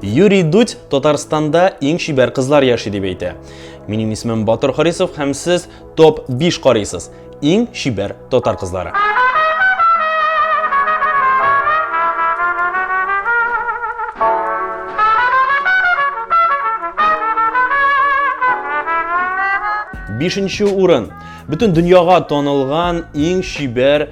Юрий Дудь Татарстанда иң чибәр кызлар яши дип әйтә. Минем исемем Батыр Харисов һәм сез топ 5 карыйсыз. Иң чибәр татар кызлары. Бишенче урын. Бөтен дөньяга танылган иң чибәр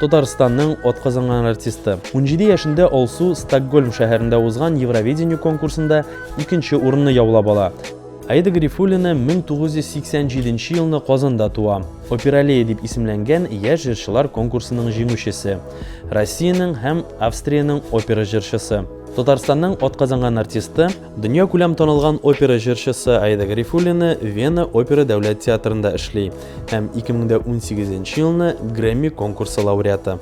Татарстанның атказанган артисты. Унҗиде яшендә Алсу Стокгольм шәһәрендә узган Евровидение конкурсында икенче урынны яулап ала. Аида Гарифуллина 1987 елны Казанда туа. Опералея дип исемләнгән яшь җырчылар конкурсының җиңүчесе. Россиянең һәм Австриянең опера җырчысы. Татарстанның атказанган артисты. Дөньякүләм танылган опера җырчысы Аида Гарифуллина Вена опера дәүләт театрында эшли һәм 2018 елны Грэмми конкурсы лауреаты.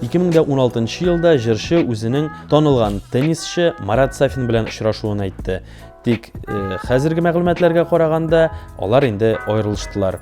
2016 елда җырчы үзенең танылган теннисчы Марат Сафин белән очрашуын әйтте. Тик э, хәзерге мәгълүматларга караганда, алар инде аерылыштылар.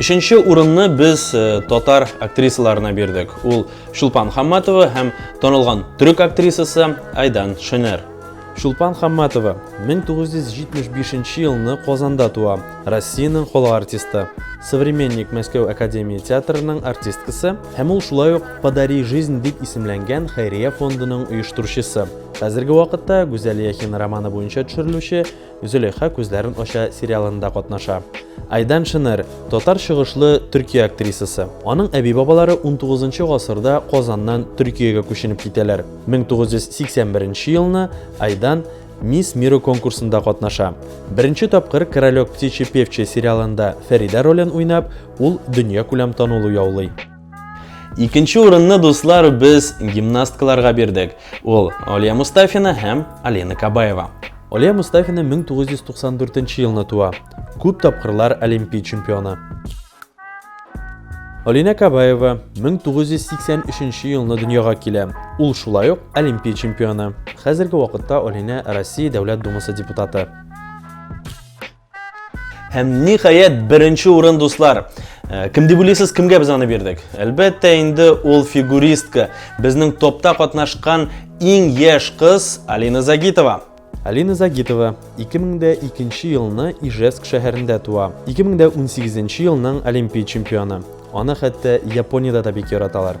Өченче урынны без э, татар актрисаларына бирдек. Ул Шулпан Хамматова һәм танылган төрек актрисасы Айдан Шенер. Шулпан Хамматова 1975 елны Казанда туа. Россиянең халык артисты, Современник Мәскәү академия театрының артисткасы һәм ул шулай ук Подари жизнь дип исемләнгән хәйрия фондының оештыручысы. Хәзерге вакытта Гүзәл Яхин романы буенча төшерелүче Зөләйха күзләрен ача сериалында катнаша. Айдан Шенер, татар чыгышлы Төркия актрисасы. Аның әби-бабалары 19 гасырда Казаннан Төркиягә күченеп китәләр. 1981 елны Айдан Мисс Миру конкурсында катнаша. Беренче тапкыр Королек птичьи певчи сериалында Фәридә ролен уйнап, ул дөньякүләм танылу яулый. Икенче урынны, дуслар, без гимнасткаларга бирдек. Ул Алия Мустафина һәм Алина Кабаева. Алия Мустафина 1994 елны туа. Күп тапкырлар олимпия чемпионы. Алина Кабаева 1983 елны дөньяга килә. Ул шулай ук Олимпия чемпионы. Хәзерге вакытта Алина Россия Дәүләт Думасы депутаты. Һәм ниһаять беренче урын дуслар. Э, кем дип уйлыйсыз, кемгә без аны бирдек? Әлбәттә, инде ул фигуристка, безнең топта катнашкан иң яшь кыз Алина Загитова. Алина Загитова 2002 елны Ижевск шәһәрендә туа. 2018 елның Олимпия чемпионы. Аны хәтта Япониядә дә бик яраталар.